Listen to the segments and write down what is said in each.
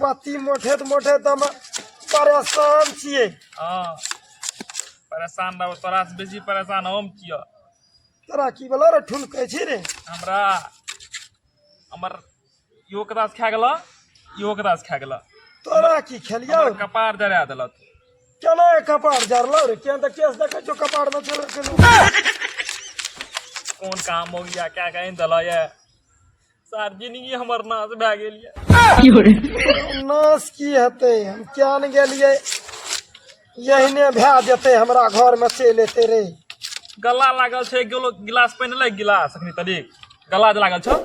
पति मोठे तऽ मोठे तऽ हम परेशान छियै हाँ परेशान रहो तोरा से बेसी परेशान हम किया तोरा की बोला रे ठुन कहै छी रे हमरा हमर इहो के दास खा गेल इहो के दास खा गेल तोरा की खेलिया हमर कपार जरा देलक केना ए कपार जरलौ रे केन तऽ केस देखै छौ कपार में चल गेलौ कोन काम हो गया क्या कहीं दिला ये सर जिंदगी हमर नाश भए गेल ये की हो रे नाश की हेतै हम किया ने गेलियै यहिने भए जेतै हमरा घरमे चलि एतै रे गला लागल छै एक किलो गिलास पानि ले गिलास अखनी तरीक गला जे लागल छौ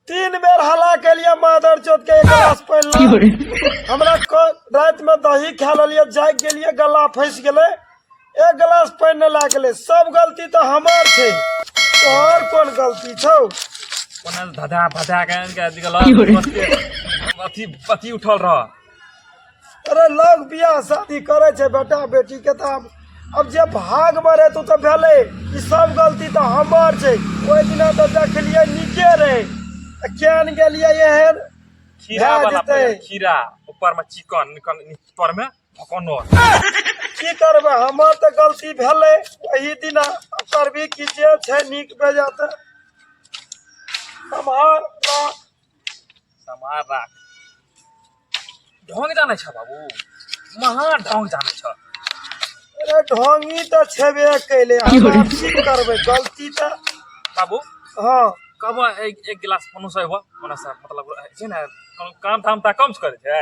तीन बेर हला केलियै मादर चोत के एक गिलास पानि की हो ला रे हमरा क- रातिमे दही खा लेलियै जाग गेलियै गला फँसि गेलै एक गिलास पानि नहि लए गेलै सब गलती तऽ हमर छै तोहर कोन गलती छौ कोना धधा फधा के आनि के अथी के लग बस के अथी अथी उठल रह अरे लोग बियाह शादी करे छै बेटा बेटी के तऽ आब अब जे भाग में रहतौ तऽ भेलै ई सब गलती तऽ हमर छै ओहि दिना तऽ देखलियै नीके रहै तऽ केहन गेलियै एहन खीरा भए वाला जेतै। पहिले, खीरा ऊपर में चिकन निकल ऊपर में कोनो की करबै हमर तऽ गलती भेलै एहि दिना करबी की जे छै नीक बेजा तऽ सम्हार राख सम्हार राख ढोंग जानै छ बाबू महा ढोंग जानै छ अरे ढोंगी तऽ छेबे कैले की करबै गलती तऽ बाबू हँ कब एक एक गिलास कोनो से एबो कोनो से मतलब छै ने काम धाम तऽ कम से करै छै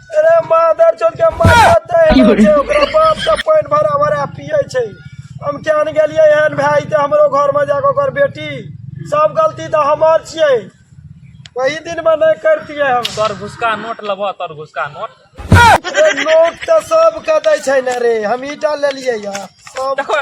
अरे मादर चोद के माथा तय हो छै ओकरा बाप के पानि भरा भरा पिए छै हम केहन गेलियै एहन भाय तऽ हमरो घर में जाके ओकर बेटी सब गलती तऽ हमर छियै वही दिन में नहि करतियै हम तोर घुसका नोट लेबो तोर घुसका नोट अरे नोट तऽ सबके दै छै ने रे हम ईटा लेलियै या सब देखो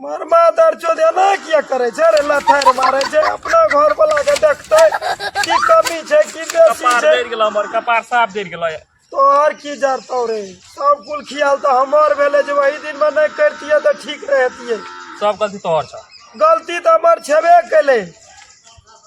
मरमा दर चो देना किया करे छे रे लथर मारे छे अपना घर वाला के देखते की कमी छे की बेसी कपार छे देर गेला हमर कपार साफ देर गेला तोहर की जानतो रे सब कुल खियाल तो हमार भेले जे वही दिन में नहीं करतिए तो ठीक रहतिए सब गलती तोहर छ गलती तो हमार छेबे कैले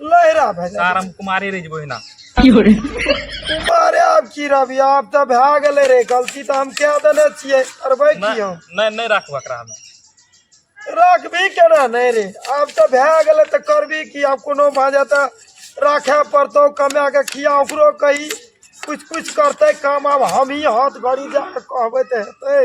लहरा भए सर जाए हम कुमारे रह जेबो एहिना अरे आब की रवि आब तऽ भए गेलै रे गलती तऽ हम कए देने छियै करबै की नहि हम नहि नहि राखू एकरा हमे राखबी केना नहि रे आब तऽ भए गेलै तऽ करबी की आब कोनो भए जाए तऽ राखै पड़तौ कमाए कऽ खिया ओकरो कही किछु किछु करतै काम आब हमही हाथ भरि जा कऽ कहबै तऽ हेतै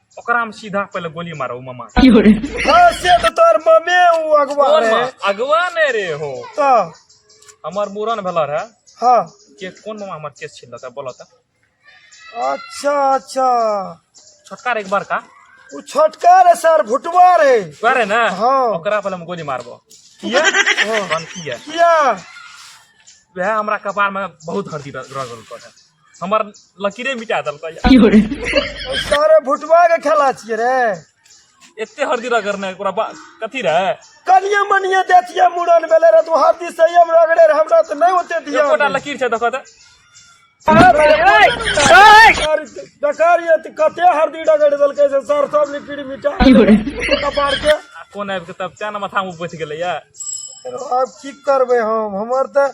ओकरा में सीधा पहले गोली मारो उ मामा के। हाँ, से तो तोर ममे उ अगवा कोन रहे मामा? अगवा ने रे हो तो हमर मूरन भेला रहे हाँ के कोन मामा हमर केस छिल लगा बोलो त अच्छा अच्छा छोटका रे एक बार का उ छोटका रे सर भुटवा रे वह रे ना हाँ। ओकरा पहले हम गोली मारबो किया कौन किया किया वह हमरा कपार में बहुत हर्दी रगल पर है हमर लकीरे मिटा देलकै यार। सारे भुटवा के खेला छिए रे एते हरदी रगड़ने ओकरा बा- कथी रहे कनिए मनिए देतिए मुड़न भेले रे तू हाथी से हम रगड़े रे हमरा त नहीं होते दिया एकोटा लकीर छै देखो तऽ डकारिए त कते हरदी डगड़ देलकै से सर सब लिक्विड मिटा कपार के आ कोन आबि कऽ तब तें ने माथामे बैठ गेलै यार अब की करबे हम हमर त